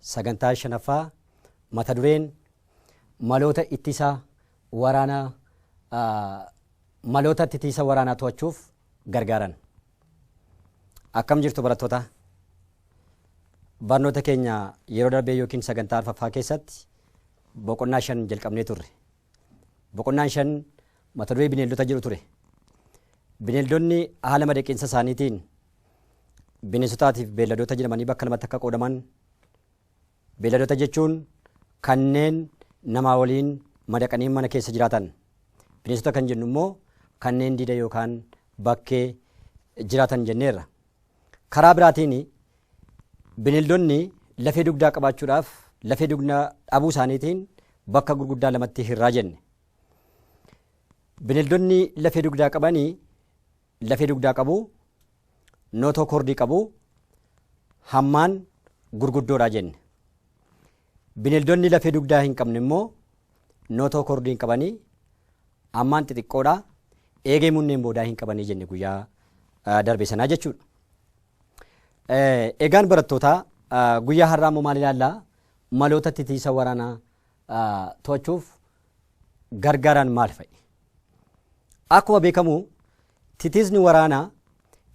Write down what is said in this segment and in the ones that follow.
Sagantaa 5ffaa mata dureen maloota ittisa waraana maloota ittisa waraanaa to'achuuf gargaaran. Akkam jirtu barattoota? Barnoota keenya yeroo darbee yookiin sagantaa arfaffaa keessatti boqonnaa shan jalqabnee turre. Boqonnaan shan mata duree bineeldota jedhu ture. Bineeldonni haala madaqinsa isaaniitiin bineensotaatiif beelladoota jedhamanii bakka lamatti akka qoodaman beelladoota jechuun kanneen namaa waliin madaqanii mana keessa jiraatan. Bineensota kan jennu immoo kanneen diida yookaan bakkee jiraatan jenneerra. Karaa biraatiin bineeldonni lafee dugdaa qabaachuudhaaf lafee dugdaa dhabuu isaaniitiin bakka gurguddaa lamatti hirraa jenne. Bineeldonni lafee dugdaa qaban lafee dugdaa qabu, nootoo kordii qabu, hammaan gurguddoodha jenne. Bineeldonni lafee dugdaa hin qabne immoo nootookordii hin qabani. Ammaan xixiqqoodha. Eegee munneen boodaa hin qabanii jenne guyyaa ah, darbe sanaa jechuudha. Eh, Egaan barattootaa ah, guyyaa har'aa immoo maal ilaallaa? Maloota titiisa waraanaa ah, to'achuuf gargaaraan maal fa'i? Akkuma beekamu titiisni waraanaa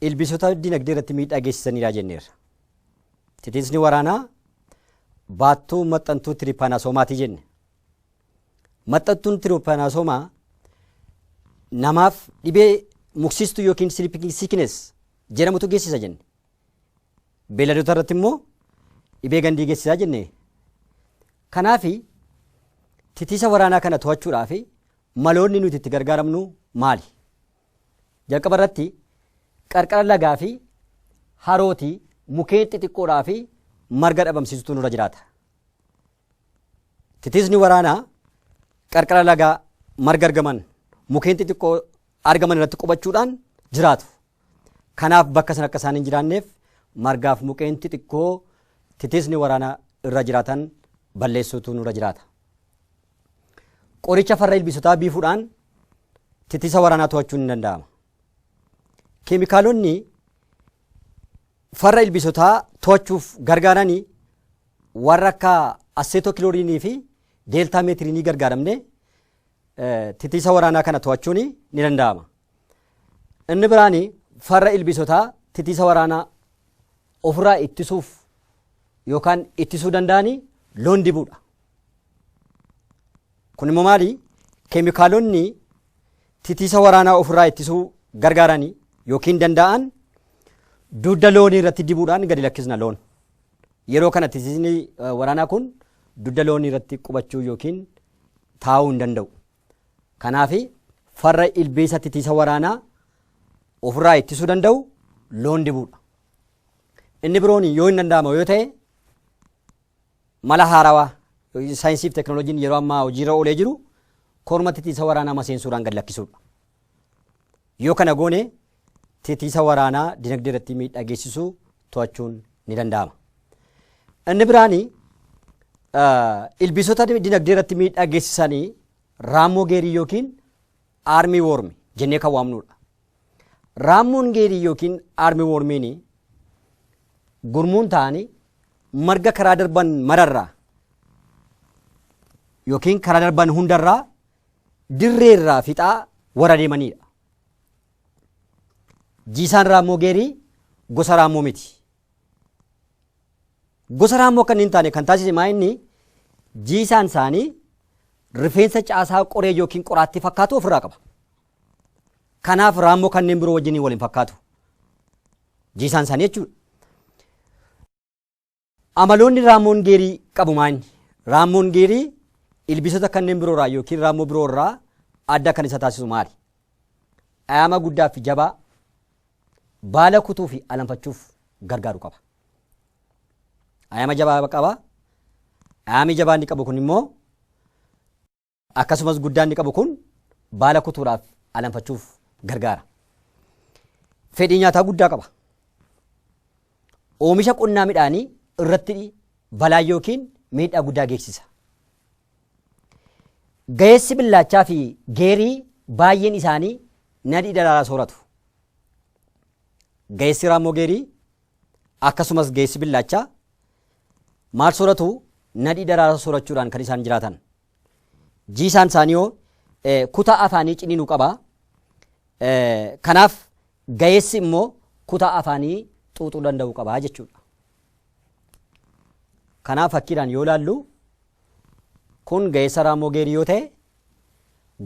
ilbiisota dinagdee irratti miidhaa geessisaniiraa jenneerra. Titiisni waraanaa baattuu maxxantuu tiripaanasoomaati jenne. Maxxantuun tiripaanasoomaa namaaf dhibee muksiistuu yookiin sleeping sickness jedhamutu geessisa jenne. Beelladoota irratti immoo dhibee gandii geessisaa jenne. Kanaaf titiisa waraanaa kana to'achuudhaaf maloonni nuti itti gargaaramnu maali? Jalqaba irratti qarqara lagaa fi harooti mukeen xixiqqoodhaa fi marga dhabamsiisutu nurra jiraata. Titiisni waraanaa qarqara lagaa marga argaman mukeen xixiqqoo argaman irratti qubachuudhaan jiraatu. Kanaaf bakka sana akka isaan hin jiraanneef margaaf mukeen xixiqqoo titiisni waraanaa irra jiraatan balleessuutu nurra jiraata. Qoricha farra ilbiisotaa biifuudhaan titisa waraanaa to'achuun ni danda'ama. Keemikaalonni farra ilbiisotaa to'achuuf gargaarani warra akka asseetookiloriinii fi deeltaa meetiriinii gargaaramne titisa waraanaa kana to'achuun ni danda'ama. Inni biraan farra ilbiisotaa titisa waraanaa ofirraa ittisuuf yookaan ittisuu danda'anii loon dibuudha. Kun immoo maali? Keemikaalonni titiisa waraanaa ofirraa ittisuu gargaarani yookiin danda'an dugda loonii irratti dibuudhaan gadi lakkisna loon. Yeroo kana titiisni eh, waraanaa kun dugda loonii irratti qubachuu yookiin taa'uu hin danda'u. Kanaaf farra ilbiisa titiisa waraanaa ofirraa ittisuu danda'u loon dibuudha. Inni biroon yoo hin danda'amu yoo ta'e Mala haarawaa yookiin saayinsii fi teknooloojiin yeroo ammaa hojiirra oolee jiru korma titiisa waraanaa maseensuudhaan gad lakkisuudha. Yoo kana goone titiisa waraanaa dinagdee irratti miidhaa geessisu to'achuun ni danda'ama. Inni biraan ilbiisota dinagdee irratti miidhaa geessisan raammoo geerii yookiin Aarmii woormi jennee kan waamnuudha. Raammoon geedii yookiin aarmii woormiin gurmuun ta'anii marga karaa darban mararraa yookiin karaa darban hundarraa dirreerraa fixaa warra deemaniidha. Jiisaan raammoo geerii gosa raammoo miti. Gosa raammoo akka inni hin taane kan taasise maa inni jiisaan isaanii rifeensa caasaa qoree yookiin qoraattii fakkaatu ofirraa qaba. Kanaaf raammoo kanneen biroo wajjin wal hin fakkaatu. Jiisaan isaanii jechuudha. Amaloonni raammoon geerii qabu maa inni? Raammoon geerii ilbiisota kanneen biroo irraa yookiin raammoo biroo irraa adda kan isa taasisu maali? Dhayaama guddaa fi jabaa baala kutuu fi alanfachuuf gargaaru qaba. Ayama jabaa qaba. Ayami jabaa inni qabu kun immoo akkasumas guddaa inni qabu kun baala kutuudhaaf alanfachuuf gargaara. Fedhii nyaataa guddaa qaba. Oomisha qonnaa midhaanii irratti balaa yookiin miidhaa guddaa geessisa. Gaheessi billaachaa fi geerii baay'een isaanii nadhii daraaraa sooratu. Gaheessi raammoo geerii akkasumas gaheessi billaachaa maal sooratu nadhii daraaraa soorachuudhaan kan isaan jiraatan. Jiisaan isaanii hoo eh, kutaa afaanii ciniinu qaba. Eh, Kanaaf gaheessi immoo kutaa afaanii xuuxuu danda'u qaba jechuudha. Kanaaf fakkiidhaan yoo ilaallu kun ga'eessa raammoo geerii yoo ta'e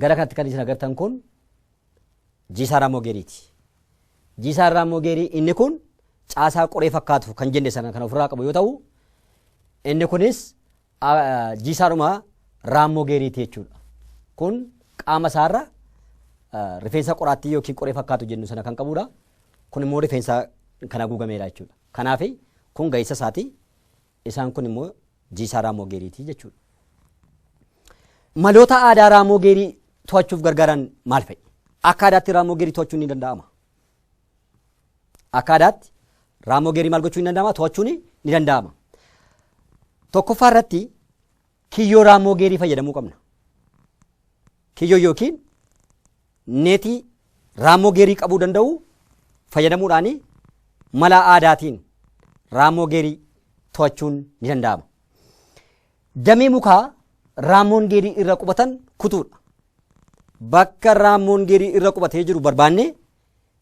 gara kanatti kan isin agartan kun jiisaa raammoo geeriiti. Jiisaan raammoo geerii inni kun caasaa qoree fakkaatu kan jenne sana kan ofirraa qabu yoo ta'u inni kunis jiisaadhuma raammoo geeriiti jechuudha. Kun qaama isaarra rifeensa qoraattii yookiin qoree fakkaatu jennu sana kan qabudha. Kun immoo rifeensa kan haguugameedha jechuudha. Kanaafi, kun ga'insa isaati. Isaan kun immoo jiisaa raammoo geeriiti jechuudha. Maloota aadaa raammoo geerii to'achuuf gargaaran maal fa'i? Akka aadaatti raammoo geerii to'achuun ni danda'ama. Akka aadaatti raammoo geerii maal gochuun ni danda'ama? To'achuun ni danda'ama. Tokkoffaa irratti kiyyoo raammoo geerii fayyadamuu qabna. Kiyyoo yookiin neetii raammoo geerii qabuu danda'u fayyadamuudhaan mala aadaatiin raammoo geerii to'achuun ni danda'ama. Damee mukaa raammoon geerii irra qubatan kutuudha. Bakka raammoon geerii irra qubatee jiru barbaannee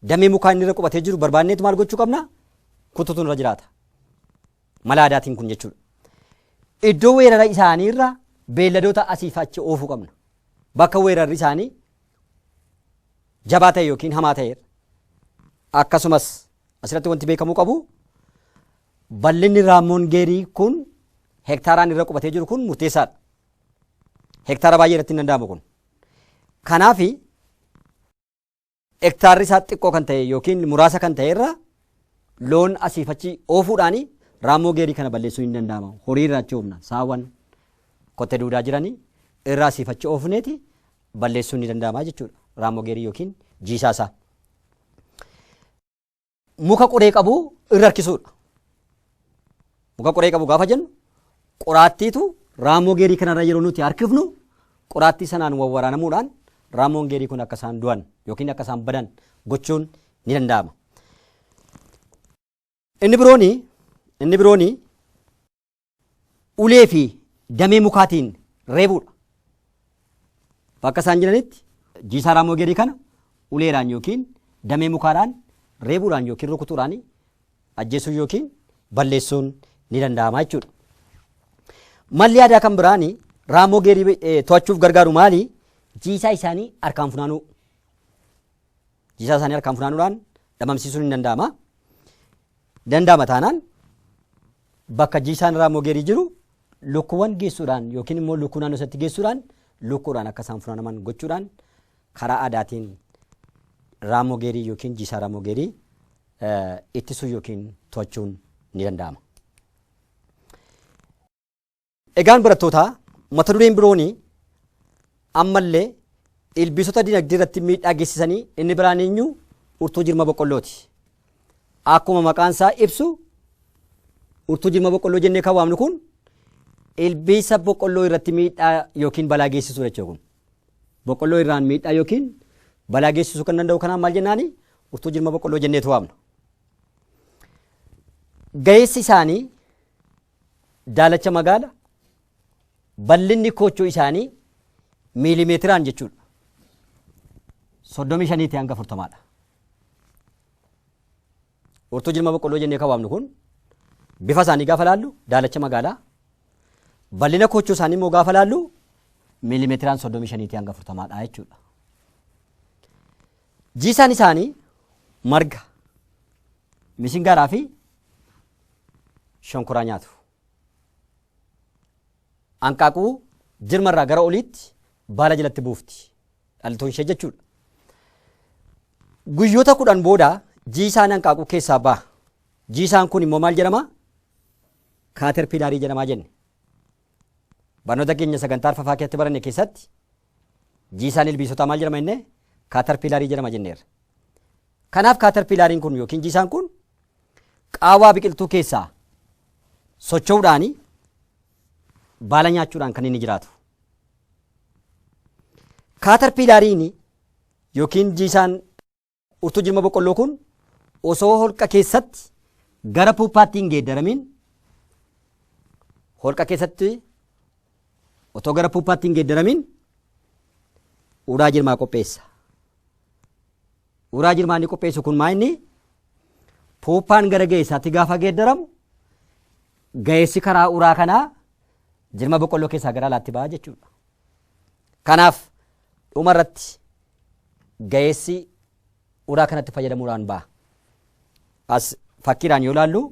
damee mukaa inni irra qubatee jiru barbaanneetu maal gochuu qabna? Kutuutu irra jiraata. Mala aadaatiin kun jechuudha. Iddoo weerara isaanii irra beelladoota asii fi achi oofuu qabna. Bakka weerarri isaanii jabaa ta'e yookiin hamaa ta'e irra. Akkasumas asirratti wanti beekamuu qabu bal'inni raammoon geerii kun hektaaraan irra qubatee jiru kun murteessaadha. Hektaara baay'ee irratti hin danda'amu kun. Kanaafi hektaarri isaa xiqqoo kan ta'e yookiin muraasa kan ta'e irra loon asiif achi oofuudhaan raammoo geerii kana balleessuu hin danda'ama. Horii irraa achi oofna. Saawwan kotte duudaa jiranii irraa asiif achi oofneeti balleessuun ni danda'ama jechuudha. Raammoo geerii yookiin jiisaa isaa. muka qoree qabu irra harkisuudha. Muka qoree qabu gaafa jennu qoraattiitu raamoo geerii kanarra yeroo nuti harkifnu qoraattii sanaan wawwaraanamuudhaan raamoon geerii kun akka isaan du'an yookiin akka isaan badan gochuun ni danda'ama. Inni birooni inni birooni ulee fi damee mukaatiin reebuudha. Bakka isaan jiranitti jiisaa raamoo geerii kana uleedhaan yookiin damee mukaadhaan reebuudhaan yookiin rukutuudhaan ajjeesuun yookiin balleessuun ni danda'ama jechuudha. Malli aadaa kan biraan raamoo geerii eh, to'achuuf gargaaru maali? Jiisaa isaanii harkaan funaanuu. Jiisaa isaanii harkaan funaanuudhaan dhamamsiisuun ni danda'ama. Danda'ama taanaan bakka jiisaan raamogeerii jiru lukkuuwwan geessuudhaan yookiin immoo lukkuu naannoo isatti geessuudhaan lukkuudhaan akka isaan funaanaman gochuudhaan karaa aadaatiin raamogeerii yookiin jiisaa raamogeerii ittisuu yookiin to'achuun ni danda'ama. Egaan barattootaa mata dureen biroon ammallee ilbiisota dinagdee irratti miidhaa geessisanii inni biraan eenyu urtuu jirma boqqollooti. Akkuma maqaan isaa ibsu urtuu jirma boqqolloo jennee kan waamnu kun ilbiisa boqqolloo irratti miidhaa yookiin balaa geessisuu jechuudha kun. Boqqolloo irraan miidhaa yookiin balaa geessisuu kan danda'u kanaan maal jennaani urtuu jirma boqqolloo jenneetu waamna. Gaheessi isaanii daalacha magaala bal'inni koochoo isaanii miilimeetiraan jechuudha. soddomii shaniitii hanga afurtamaadha. Urtuu jirma boqqolloo jennee kan waamnu kun bifa isaanii gaafa laallu daalacha magaalaa bal'ina koochoo isaanii immoo gaafa laallu miilimeetiraan soddomii shaniitii hanga afurtamaadha jechuudha. Jiisaan isaanii marga misingaaraa fi shonkoraa nyaatu. Anqaaquu jirma irraa gara oliitti baala jalatti buufti. Dhaltoon ishee jechuudha. Guyyoota kudhan booda jiisaan anqaaquu keessaa baha. Jiisaan kun immoo maal jedhama? Kaaterpilaarii jedhamaa jenne. Barnoota keenya sagantaa arfafaa keessatti baranne keessatti jiisaan ilbiisotaa maal jedhama jennee? Kaaterpilaarii jedhama jenneerra. Kanaaf kaaterpilaariin kun yookiin jiisaan kun Qaawwaa biqiltuu keessaa socho'uudhaan baala nyaachuudhaan kan inni jiraatu. Kaatarpiilaariin yookiin jiisaan urtuu jirma boqqolloo kun osoo holqa keessatti gara puuppaatti hin geeddaramiin holqa keessatti otoo gara puuppaatti hin geeddaramiin uraa jirmaa qopheessa. Uraa jirmaa inni qopheessu kun maa inni puuppaan gara ga'eessaatti gaafa geeddaramu ga'eessi karaa uraa kanaa jirma boqqolloo keessaa gara alaatti ba'a jechuudha. Kanaaf dhuma irratti ga'eessi uraa kanatti fayyadamuudhaan ba'a. As fakkiidhaan yoo ilaallu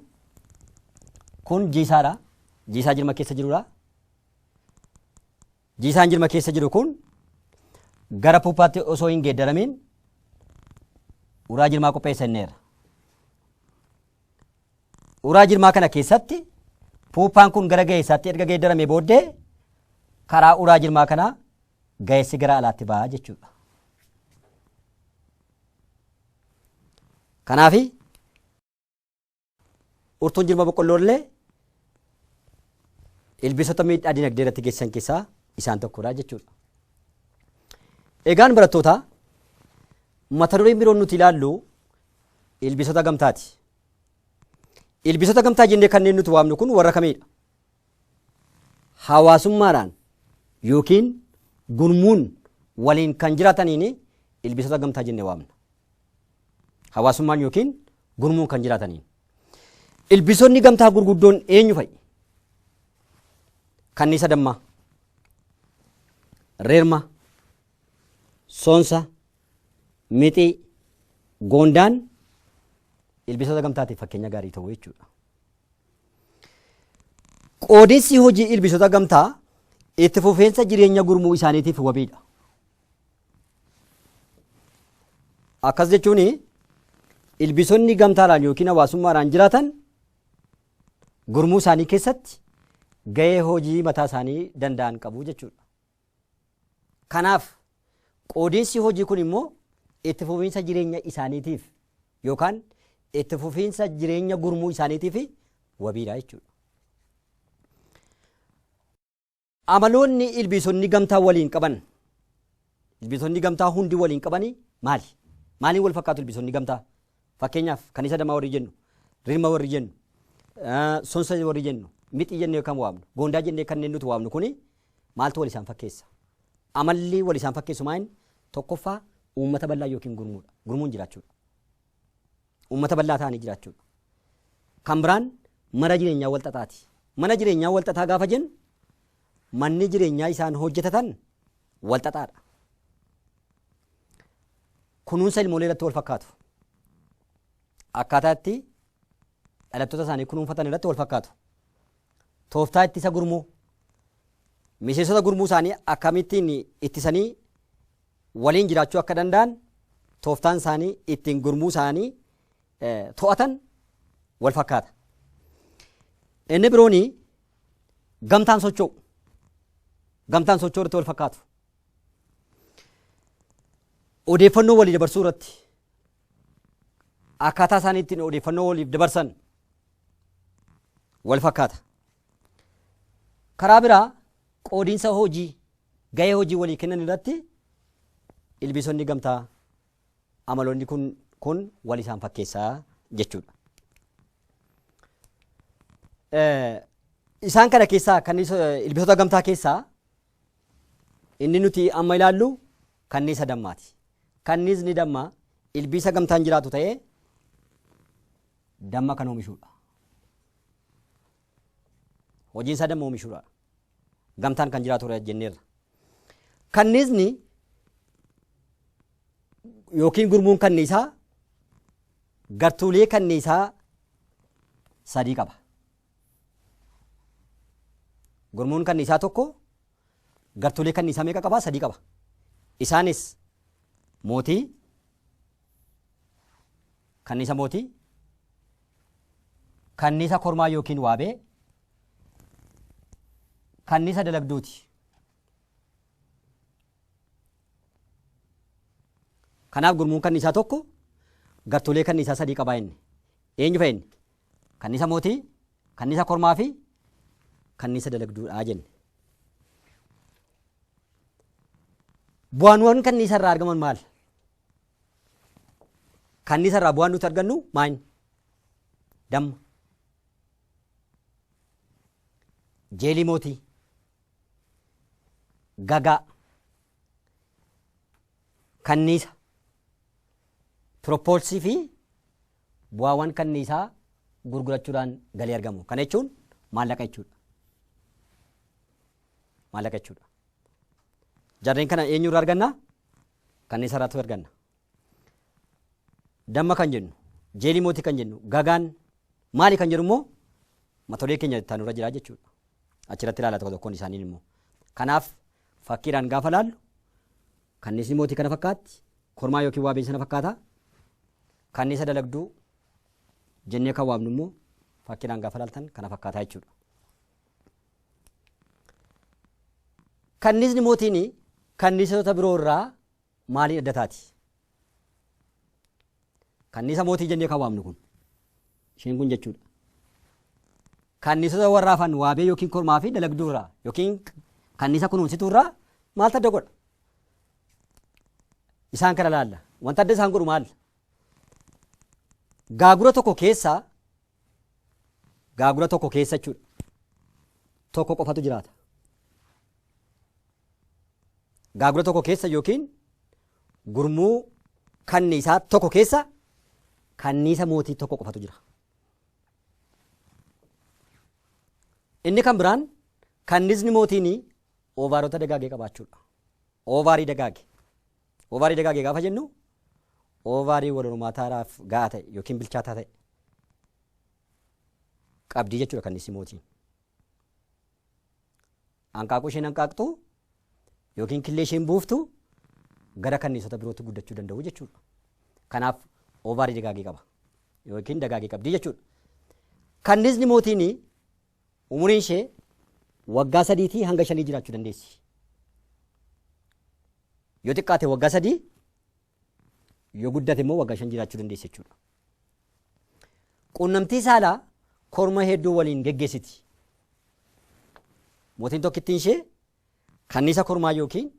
kun jiisaadha. Jiisaa jirma keessa jirudha. Jiisaan jirma keessa jiru kun gara puuppaatti osoo hin geeddaramiin uraa jirmaa qopheessanneerra. Uraa jirmaa kana keessatti puuppaan kun gara ga'eessaatti erga geeddaramee booddee karaa uraa jirmaa kanaa ga'eessi gara alaatti ba'a jechuudha. Kanaafi Urtuun jirma boqqolloo illee ilbiisota miidhaa dinagdee irratti geessisan keessaa isaan tokkodha jechuudha. Egaan barattootaa mata dureen biroon nuti ilaallu ilbiisota gamtaati. Ilbiisota gamtaa jennee kanneen nuti waamnu kun warra kamiidha? Hawaasummaadhaan yookiin gurmuun waliin kan jiraataniin ilbiisota gamtaa jennee waamna. Hawaasummaan yookiin gurmuun kan jiraataniin. Ilbiisonni gamtaa gurguddoon eenyu fa'i? Kanniisa dammaa, reerma, soonsa, mixii, goondaan ilbiisota gamtaatiif fakkeenya gaarii ta'u jechuudha. Qoodinsi hojii ilbiisota gamtaa itti fufeensa jireenya gurmuu isaaniitiif wabiidha. Akkas jechuun ilbiisonni gamtaadhaan yookiin hawaasummaadhaan jiraatan gurmuu isaanii keessatti gahee hojii mataa isaanii danda'an qabu jechuudha. Kanaaf qoodinsi hojii kun immoo itti fufiinsa jireenya isaaniitiif yookaan itti fufiinsa jireenya gurmuu isaaniitiif wabiidha jechuudha. Amaloonni ilbiisonni gamtaa waliin qaban ilbiisonni gamtaa hundi waliin qabani maali? Maaliin wal fakkaatu ilbiisonni gamtaa? Fakkeenyaaf kan isa damaa warri jennu, rirma warri jennu, sonsa warri jennu, mixii jennee kan waamnu, goondaa jennee kanneen nuti waamnu kuni maaltu wal isaan fakkeessa? Amalli wal isaan fakkeessu maayin? Tokkoffaa uummata bal'aa yookiin gurmuudha. Gurmuun jiraachuudha. Uummata bal'aa ta'anii jiraachuudha. Kan biraan mana jireenyaa walxaxaati. Mana jireenyaa walxaxaa gaafa jennu manni jireenyaa isaan hojjetatan walxaxaadha. Kunuunsa ilmoolee irratti wal fakkaatu. Akkaataa itti dhalattoota isaanii kunuunfatan irratti wal fakkaatu. Tooftaa ittisa gurmuu miseensota gurmuu isaanii akkamittiin ittisanii waliin jiraachuu akka danda'an tooftaan isaanii ittiin gurmuu isaanii to'atan wal fakkaata. Inni birooni gamtaan socho'u. Gamtaan socho'u irratti wal fakkaatu. Odeeffannoo walii dabarsuu irratti akkaataa isaanii ittiin odeeffannoo waliif dabarsan wal fakkaata. Karaa biraa Qoodinsa hojii, gahee hojii walii kennan irratti ilbiisonni gamtaa amaloonni kun kun wal isaan fakkeessa jechuudha. Isaan kana keessaa kan ilbiisota gamtaa keessaa inni nuti amma ilaallu kanniisa dammaati. Kanniisni dammaa ilbiisa gamtaan jiraatu ta'ee damma kan oomishudha. Hojiin isaa damma oomishuudha. Gamtaan kan jiraatudha jenneerra. Kanniisni yookiin gurmuun kanniisaa gartuulee kanniisaa sadii qaba. Gurmuun kanniisaa tokko gartuulee kanniisaa meeqa qaba? Sadii qaba. Isaanis mootii, Kanniisa Mootii, Kanniisa Kormaa ykn Waabee, Kanniisa Dalagduuti. Kanaaf gurmuun kanniisaa tokko gartuulee kanniisaa sadii qabaa inni. Eenyu fa'i inni? Kanniisa Mootii, Kanniisa Kormaa fi Kanniisa Dalagduudhaa jenne. Bu'aanwwan kanniisa irraa argaman maal? Kaanniisa irraa bu'aan nuti argannu maayini? Damma. Jeelii mootii. Gagaa. Kanniisa. Piroppoolsii fi bu'aawwan kanniisaa gurgurachuudhaan galii argamu. Kana jechuun maallaqa jechuudha. Maallaqa jechuudha. Jarreen kana eenyu irraa arganna? Kanniisa irraatu arganna. Damma kan jennu, jeelii mootii kan jennu, gagaan maali kan jedhu immoo matolee keenya itti aanurra jira jechuudha. Achirratti ilaala tokko tokkoon isaanii immoo. Kanaaf fakkiidhaan gaafa laallu kanniisni mootii kana fakkaatti, kormaa yookiin waabeen sana fakkaata. Kanniisa dalagduu jennee kan waamnu immoo fakkiidhaan gaafa laaltan kana fakkaata jechuudha. Kanniisni mootiin kanniisota biroo irraa maaliin adda taati? Kanniisa mootii jennee kan waamnu kun isheen kun jechuudha. Kanniisota warra hafan waabee yookiin kormaa fi dalagduu irraa yookiin kanniisa kunuunsituu irraa maaltu adda godha? Isaan kana laalla. Wanta adda isaan godhu maal? Gaagura tokko keessaa gaagura tokko keessa jechuudha. Tokko qofatu jiraata. Gaagura tokko keessa yookiin gurmuu kanniisaa tokko keessa kanniisa mootii tokko qofatu jira. Inni kan biraan kannisni mootiin oovaarota dagaagee qabaachuudha. Oovaarii dagaage. Oovaarii dagaage gaafa jennu oovaarii wal hormaataadhaaf ga'aa ta'e yookiin bilchaataa ta'e qabdii jechuudha kanniisni mootiin. Hanqaaquu isheen hanqaaqxu yookiin killee isheen buuftu gara kanniisota birootti guddachuu danda'u jechuudha. Kanaaf oovaarii dagaagee qaba yookiin dagaagee qabdii jechuudha. Kanniisni mootiin Umuriin ishee waggaa sadiitii hanga shanii jiraachuu dandeessi. Yoo xiqqaate waggaa sadii yoo guddate immoo waggaa shan jiraachuu dandeessi jechuudha. Quunnamtii saalaa korma hedduu waliin geggeessiti. Mootiin tokkittiin ishee Kanniisa Kormaa ykn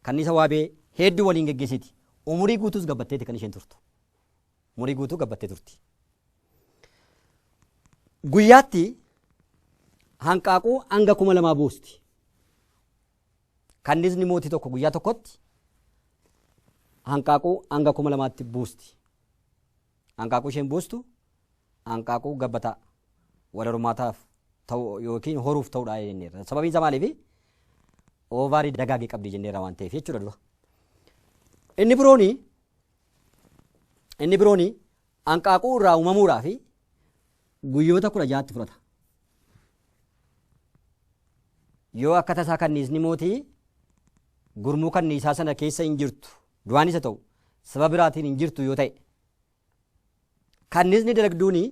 Kanniisa Waabee heedduu waliin geggeessiti. Umurii guutuus gabbatteeti kan isheen turtu. Umurii guutuu gabbattee turti. Guyyaatti hanqaaquu hanga kuma lamaa buusti. Kanniisni mootii tokko guyyaa tokkotti hanqaaquu hanga kuma lamaatti buusti. Hanqaaquu isheen buustu hanqaaquu gabbataa wal hormaataaf ta'u yookiin horuuf ta'udha jenneerra. Sababiin isaa maaliifi? Oovaarii dagaage qabdi jenneerra waan ta'eef jechuudha dura. Inni birooni inni birooni hanqaaquu irraa uumamuudhaa fi guyyoota kudha ja'atti fudhata. Yoo akka tasaa kanniisni mootii gurmuu kanniisaa sana keessa hin jirtu Du'aanis haa ta'u sababa biraatiin hin jirtu yoo ta'e. Kanniisni dalagduuni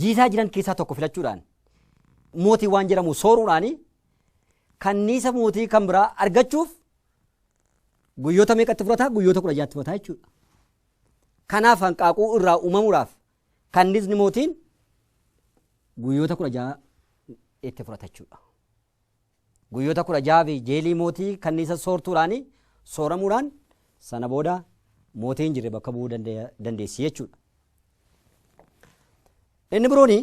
jiisaa jiran keessaa tokko filachuudhaan mootii waan jedhamu sooruudhaani kanniisa mootii kan biraa argachuuf guyyoota meeqatti fudhata guyyoota kudha jaatti fudhata jechuudha. Kanaaf hanqaaquu irraa uumamuudhaaf kanniisni mootiin guyyoota kudha ja'a itti fudhata jechuudha. Guyyoota kudha ja'a fi jeelii mootii kanniisa soortuudhaan sooramuudhaan sana booda mootii hin jirre bakka bu'uu danda- dandeessi jechuudha. Inni birooni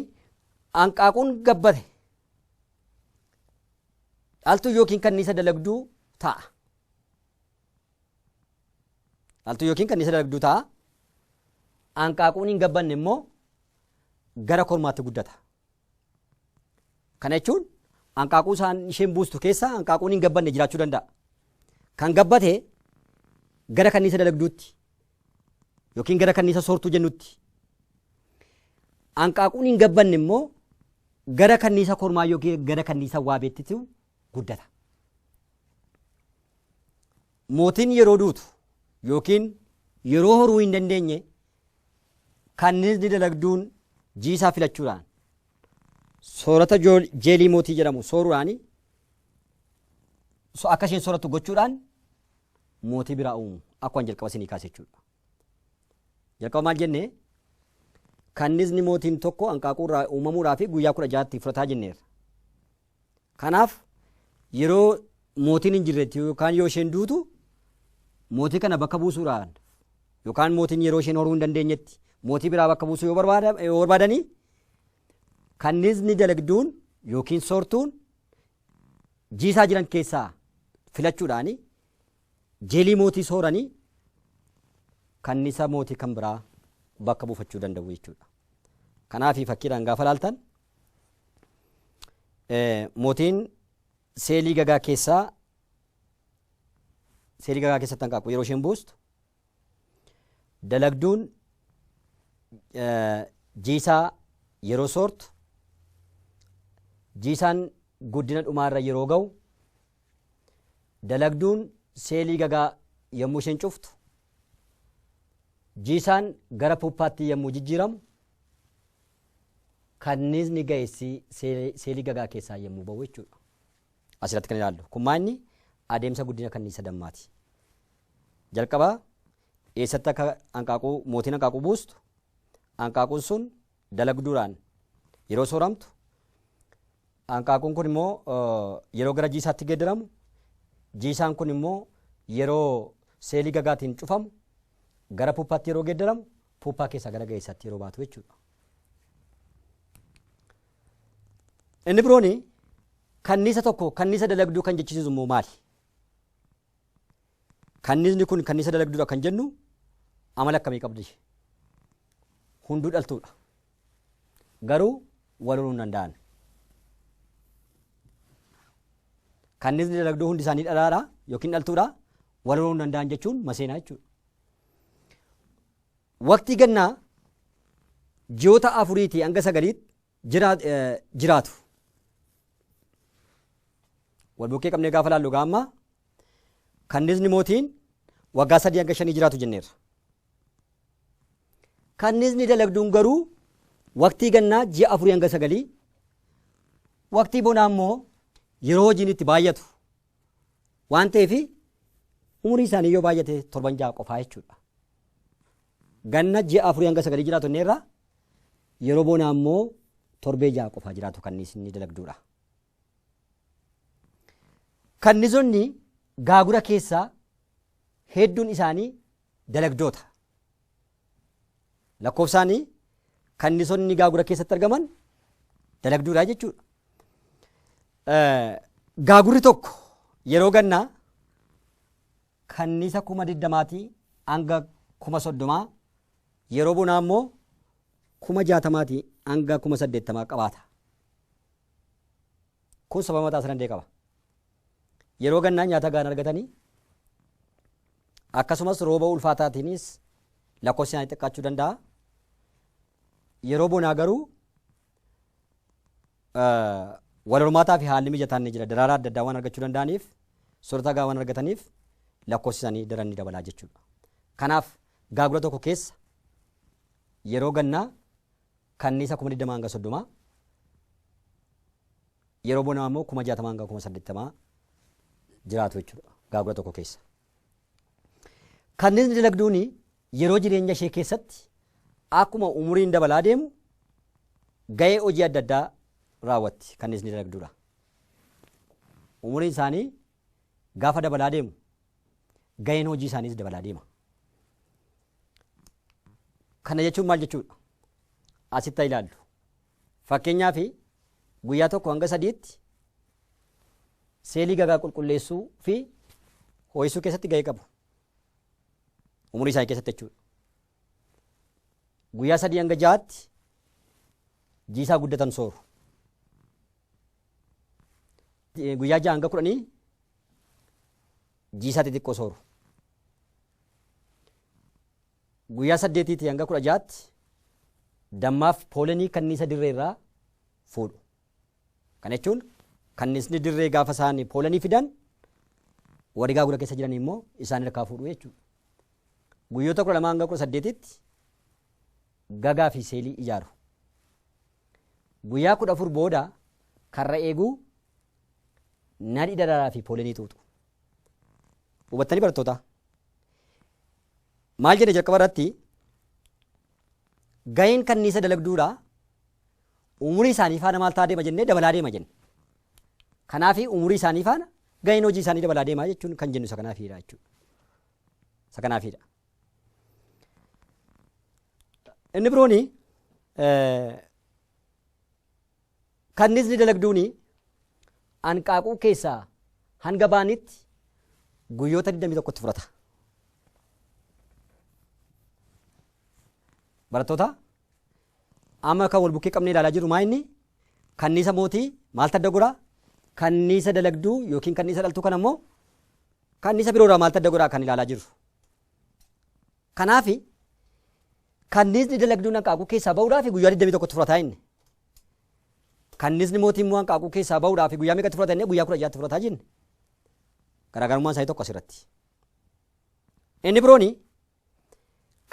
hanqaaquun gabbate dhaltuu yookiin kanniisa dalagduu ta'a. Dhaltuu yookiin kanniisa dalagduu ta'a. Hanqaaquun hin gabbanne immoo gara kormaatti guddata. Kana jechuun hanqaaquu isaan isheen buustu keessa hanqaaquun hin gabbanne jiraachuu danda'a. Kan gabbate gara kanniisa dalagduutti yookiin gara kanniisa soortuu jennutti. Hanqaaquun hin gabbanne immoo gara kanniisa kormaa yookiin gara kanniisa waabeettitu guddata. Mootiin yeroo duutu ykn yeroo horuu hin dandeenye kanniisni dalagduun jiisaa filachuudhaan soorata jeelii mootii jedhamu sooruudhaan akka isheen soorattu gochuudhaan mootii biraa uumu akkuma jalqaba isinii kaase jechuudha. Jalqaba maal jennee kanniisni mootiin tokko hanqaaquu irraa uumamuudhaa fi guyyaa kudha jaatti fudhataa jenneerra. Kanaaf yeroo mootiin hin jirretti yookaan yoo isheen duutu mootii kana bakka buusuudhaan yookaan mootiin yeroo isheen horuu hin dandeenyetti mootii biraa bakka buusuu yoo barbaada- yoo barbaadanii kanniisni dalagduun yookiin soortuun jiisaa jiran keessaa filachuudhaan jeelii mootii sooranii kanniisa mootii kan biraa bakka buufachuu danda'u jechuudha. Kanaaf fakkiidhaan gaafa laaltan Mootiin seelii gagaa keessaa seelii gagaa keessatti hanqaaquu yeroo isheen buustu dalagduun jiisaa yeroo soortu jiisaan guddina dhumaarra yeroo ga'u dalagduun seelii gagaa yommuu isheen cuftu jiisaan gara puuppaatti yommuu jijjiiramu kanniisni ga'essi seelii gagaa keessaa yommuu ba'u jechuudha. Asirratti kan ilaallu kun maanni adeemsa guddina kanniisa dammaati. Jalqaba eessatti akka hanqaaquu mootiin hanqaaquu buustu hanqaaquun sun dalagduudhaan yeroo sooramtu hanqaaquun kun immoo yeroo gara jiisaatti geeddaramu jiisaan kun immoo yeroo seelii gagaatiin cufamu gara puppaatti yeroo geeddaramu puuppaa keessaa gara ga'eessaatti yeroo baatu jechuudha. Inni biroon kanniisa tokko kanniisa dalagduu kan jechisiisu immoo maali? Kanniisni kun kanniisa dalagduudha kan jennu amala akkamii qabdi? Hunduu dhaltuudha. Garuu wal horuu hin danda'an. Kanniisni dalagduu hundi isaanii dhalaadha yookiin dhaltuudha wal horuu hin danda'an jechuun maseenaa jechuudha. Waqtii gannaa ji'oota afuriitii hanga sagaliitti jiraa- eh, jiraatu. Wal bukkee qabnee gaafa laallu egaa amma kannisni mootiin waggaa sadii hanga shanii jiraatu jenneerra. Kannisni dalagduun garuu waqtii gannaa ji'a afurii hanga sagalii waqtii bonaa immoo yeroo hojiin itti baay'atu Waan ta'eef umurii isaanii yoo baay'ate torban ja'a qofaa jechuudha. Ganna ji'a afurii hanga sagalii jiraatu inni irraa yeroo boonaa immoo torbee ja'a qofaa jiraatu kan inni dalagduudha. Kannizonni gaagura keessaa hedduun isaanii dalagdoota. Lakkoofsaan kannisonni gaagura keessatti argaman dalagduudha jechuudha. Gaagurri tokko yeroo gannaa kannisa kuma digdamaatii hanga kuma soddomaa yeroo bonaa immoo kuma jaatamaatii hanga kuma saddeettamaa qabaata. Kun sababa mataa isaa danda'e qaba. Yeroo gannaa nyaata gahaa hin argatani. Akkasumas rooba ulfaataatiinis lakkoofsi isaanii xiqqaachuu danda'a. Yeroo bonaa garuu wal hormaataa fi haalli mijataan ni jira. Daraaraa adda addaa waan argachuu danda'aniif, soorata gahaa waan argataniif lakkoofsi isaanii daran ni dabalaa jechuudha. Kanaaf gaagura tokko keessa yeroo gannaa kanniisa kuma 20 hanga 30 Yeroo bonaa immoo 60,000-80,000 jiraatu jechuudha gaagura tokko keessa. Kanniisni dalagduun yeroo jireenya ishee keessatti akkuma umuriin dabalaa deemu ga'ee hojii adda addaa raawwatti kanniisni dalagduudha. Umuriin isaanii gaafa dabalaa deemu ga'een hojii isaaniis dabalaa deema. Kana jechuun maal jechuudha? Asitti ilaallu. Fakkeenyaaf, guyyaa 1-3tti seelii gagaa qulqulleessuu fi hoo'isuu keessatti gahee qabu. Umurii isaanii keessatti jechuudha. Guyyaa 3-6tti jiisaa guddatan sooru. Guyyaa 6-10 jiisaa xixiqqoo sooru. Guyyaa 8-16tti dammaaf poolenii kanniisa dirree irraa fuudhu. Kana jechuun kanniisni dirree gaafa isaan poolenii fidan warri gaagura keessa jiran immoo isaan harkaa fuudhu jechuudha. Guyyoota 12-18tti gagaa fi seelii ijaaru. Guyyaa 14 booda karra eeguu nadhi daraaraa fi poolenii xuuxu. Hubattanii barattoota? Maal jenne jalqaba irratti gaheen kanniisa dalagduudha. Umurii isaanii faana maal ta'aa deema jennee dabalaa deema jenne. Kanaaf umurii isaanii faana gaheen hojii isaanii dabalaa deema jechuun kan jennu isa kanaafiidha jechuudha. Isa kanaafiidha. Inni birooni Kanniisni dalagduun anqaaquu keessaa hanga ba'anitti guyyoota 21 itti fudhata. Barattoota amma kan wal bukkee qabnee ilaalaa jirru maa inni kanniisa mootii maaltu adda godhaa? Kanniisa dalagduu yookiin kanniisa dhaltuu kana immoo kanniisa biroorraa maaltu adda godhaa kan ilaalaa jirru. Kanaaf kanniisni dalagduun anqaaquu keessaa ba'uudhaaf guyyaa 21 itti fudhata inni. Kannisni mootii immoo hanqaaquu keessaa ba'uudhaaf guyyaa meeqatti fudhata jennee guyyaa kudha ja'atti fudhataa jenne. Garaagarummaan isaanii tokko asirratti. Inni birooni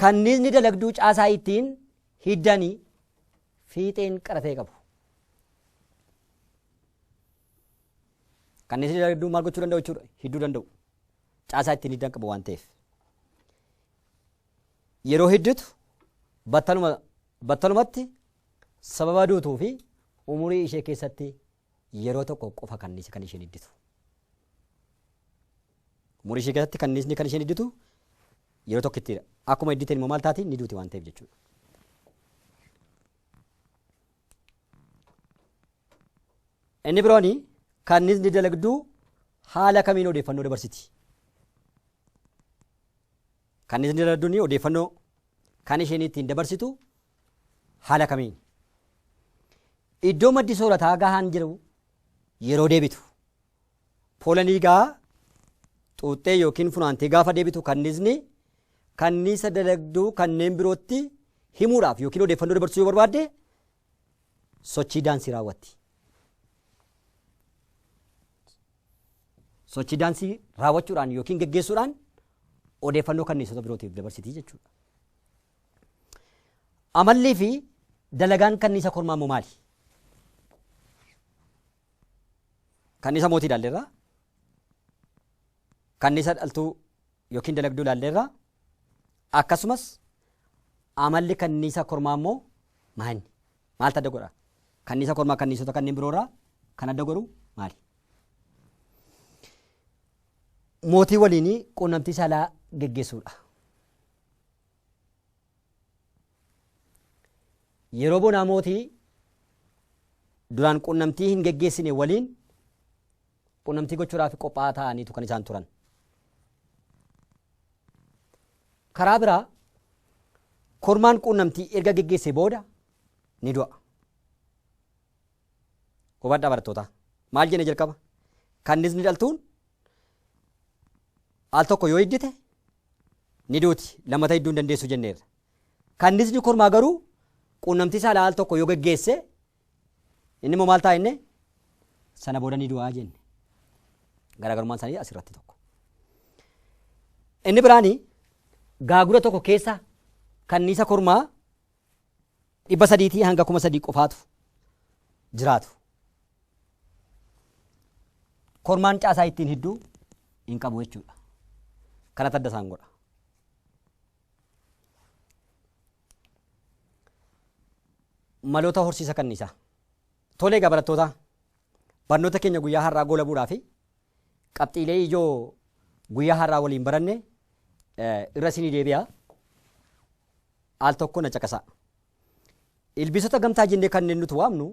kannisni dalagduu caasaa ittiin hiddanii fiixeen qara ta'e qabu. Kannisni dalagduu maal gochuu danda'u jechuudha? Hidduu danda'u. Caasaa ittiin hiddan qabu waan ta'eef. Yeroo heddutu battaluma battalumatti sababa duutuu fi umurii ishee keessatti yeroo tokko qofa kanniisa kan isheen idditu. Umurii ishee keessatti kanniisni kan isheen idditu yeroo tokkittidha. Akkuma idditeen immoo maal taati ni duuti waan ta'eef jechuudha. Inni biroon kanniisni dalagduu haala kamiin odeeffannoo dabarsiti? Kan isin irraa duni odeeffannoo kan isheen ittiin dabarsitu haala kamiin? Iddoo maddi soorataa gahaan jiru yeroo deebitu. Poolanii gaa xuuxxee yookiin funaantee gaafa deebitu kanniisni kanniisa dalagduu kanneen birootti himuudhaaf yookiin odeeffannoo dabarsuu yoo barbaadde sochii daansii raawwatti. Sochii daansii raawwachuudhaan yookiin geggeessuudhaan odeeffannoo kanniisota birootiif dabarsiti jechuudha. Amallii fi dalagaan kanniisa kormaa immoo maali? Kanniisa mootii ilaalleerra. Kanniisa dhaltuu yookiin dalagduu ilaalleerra. Akkasumas amalli kanniisa kormaa immoo maa inni? Maaltu adda godha? Kanniisa kormaa kanniisota kanneen biroo irraa kan adda godhu maali? Mootii waliin quunnamtii saalaa geggeessuudha. Yeroo bonaa mootii duraan quunnamtii hin geggeessine waliin qunnamtii gochuudhaaf qophaa'aa taa'aniitu kan isaan turan. Karaa biraa kormaan qunnamtii erga geggeessee booda ni du'a. Hubadhaa barattootaa. Maal jenne jalqaba? Kannisni dhaltuun al tokko yoo hiddite ni duuti lammata hidduu hin dandeessu jenneerra. Kannisni kormaa garuu qunnamtii saalaa al tokko yoo geggeesse Inni immoo maal ta'a inni? Sana booda ni du'aa jenne. Garaagarummaan isaanii asirratti tokko. Inni biraani gaagura tokko keessa kanniisa kormaa dhibba sadiitii hanga kuma sadii qofaatu jiraatu. Kormaan caasaa ittiin hidduu hin qabu jechuudha. Kana tadda isaan godha. Maloota horsiisa kanniisaa. Tole egaa barattootaa barnoota keenya guyyaa har'aa goolabuudhaa fi qabxiilee ijoo guyyaa har'aa waliin baranne irra isinii deebi'a. Al tokko na caqasaa. Ilbiisota gamtaa jennee kanneen nuti waamnu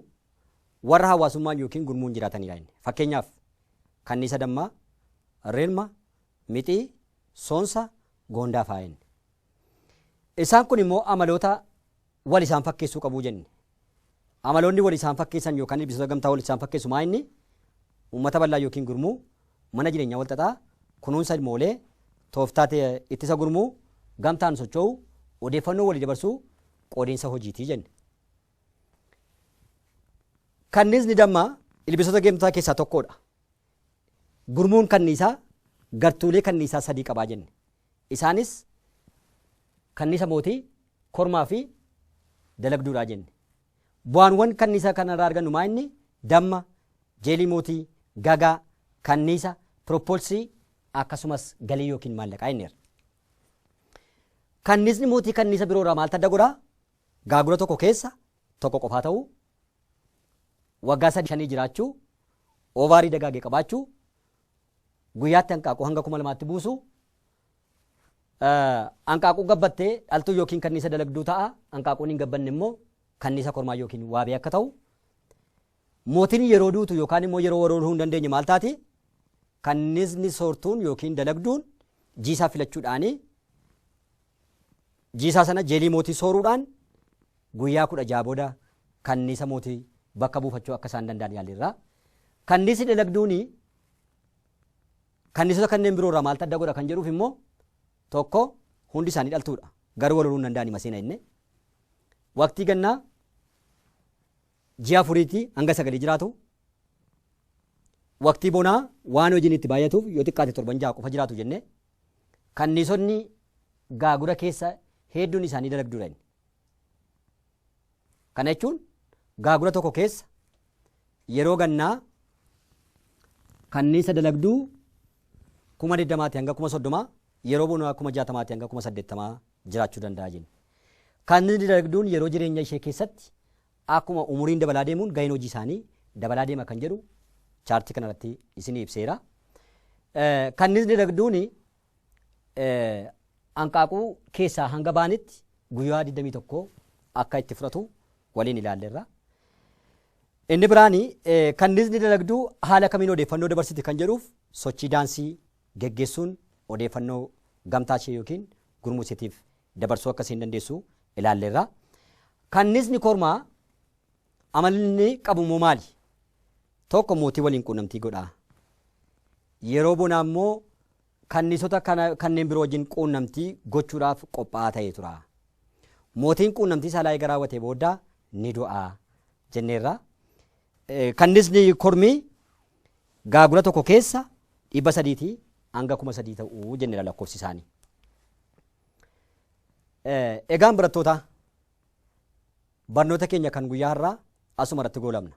warra hawaasummaan yookiin gurmuun jiraatanidha inni. Fakkeenyaaf kanniisa dammaa, rilma, mixii, soonsa, goondaa fa'a inni. Isaan kun immoo amaloota wal isaan fakkeessuu qabu jenne. Amaloonni wal isaan fakkeessan yookaan ilbiisota gamtaa wal isaan fakkeessu maa inni uummata bal'aa yookiin gurmuu, mana jireenyaa wal xaxaa, kunuunsa ilmoolee, tooftaa ittisa gurmuu, gamtaan socho'uu, odeeffannoo walii dabarsuu, qoodinsa hojiitii jenne. Kanniisni dammaa ilbiisota gamtaa keessaa tokkodha. Gurmuun kanniisaa gartuulee kanniisaa sadii qabaa jenne. Isaanis, Kannisa mootii, kormaa fi dalagduu dha jenne. Bu'aanwan kannisa kana irraa argannu maa inni? Damma, jeelii mootii, gagaa, kanniisa, pirooppoolsii akkasumas galii yookiin maallaqaa jenneerra. Kannisni mootii kanniisa biroo irraa maaltu adda godha? Gaagura tokko keessa tokko qofaa ta'uu, waggaa sadii shanii jiraachuu, oovaarii dagaage qabaachuu, guyyaatti hanqaaquu hanga kuma lamaatti buusu. Hanqaaquu gabbatte dhaltuu yookiin kanniisa dalagduu ta'a. Hanqaaquun hin gabbanne immoo kanniisa kormaa yookiin waabee akka ta'u. Mootiin yeroo duutu yookaan immoo yeroo warooluu hin dandeenye maal taati? Kanniisni soortuun yookiin dalagduun jiisaa filachuudhaani jiisaa sana jeelii mootii sooruudhaan guyyaa kudha jaha booda kanniisa mootii bakka buufachuu akka isaan danda'an yaalirra. Kanniisni dalagduuni Kanniisota kanneen biroo irraa maaltu adda godha kan jedhuuf immoo tokko hundi isaanii dhaltuudha. Garuu wal horuu hin danda'ani maseena inni. Waqtii gannaa ji'a afuriitii hanga sagalii jiraatu. Waqtii bonaa waan hojiin itti baay'atuuf yoo xiqqaate torban ja'a qofa jiraatu jennee kanniisonni gaagura keessa hedduun isaanii dalagduudha inni. Kana jechuun gaagura tokko keessa yeroo gannaa kanniisa dalagduu kuma digdamaati hanga kuma soddomaa yeroo bonaa kuma jaatamaati hanga kuma saddeettamaa jiraachuu danda'a jenna. Kanniisni dalagduun yeroo jireenya ishee keessatti akkuma umuriin dabalaa deemuun gaheen hojii isaanii dabalaa deema kan jedhu chaartii kanarratti isinii ibseera. Kanniisni dalagduun hanqaaquu keessaa hanga ba'anitti guyyaa 21 akka itti fudhatu waliin ilaalleerra. Inni biraani kanniisni dalagduu haala kamiin odeeffannoo dabarsiti kan jedhuuf sochii daansii geggeessuun odeeffannoo gamtaa ishee yookiin gurmuu isheetiif dabarsuu akka isheen dandeessu ilaalleerra. Kanniisni kormaa amalli qabu immoo maali? Tokko mootii waliin quunnamtii godha. Yeroo bonaa immoo kanniisota kana kanneen biroo wajjin quunnamtii gochuudhaaf qophaa'aa ta'ee tura. Mootiin quunnamtii saalaa eega raawwatee booda ni du'a jenneerra. Kannisni kormii gaagura tokko keessa dhibba sadiitii hanga kuma sadii ta'uu jenneera lakkoofsi isaanii. Egaan barattootaa barnoota keenya kan guyyaa har'aa asuma irratti goolabna.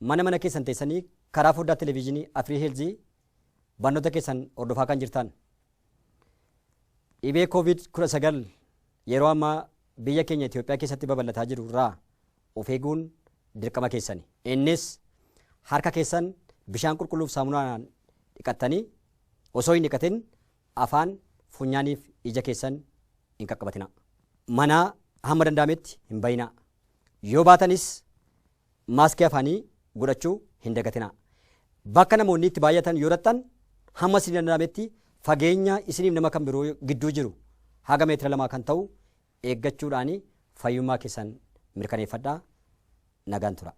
mana mana keessan teessanii karaa foddaa televiizhinii Afrii Heelzii barnoota keessan hordofaa kan jirtan. Dhibee COVID-19 yeroo ammaa biyya keenya Itoophiyaa keessatti babal'ataa jiru irraa of eeguun dirqama keessani. Innis harka keessan bishaan qulqulluuf saamunaan dhiqattanii osoo hin dhiqatin Afaan, funyaaniif ija keessan hin qaqqabatinaa. Manaa hamma danda'ametti hin ba'inaa. Yoo baatanis maaskii afaanii godhachuu hin dagatinaa. Bakka namoonni itti baay'atan yoo dhaqxan hamma isinii danda'ametti fageenya isiniif nama kan biroo gidduu jiru haga meetira lamaa kan ta'u eeggachuudhaan fayyummaa keessan mirkaneeffadhaa. Nagaan turaa.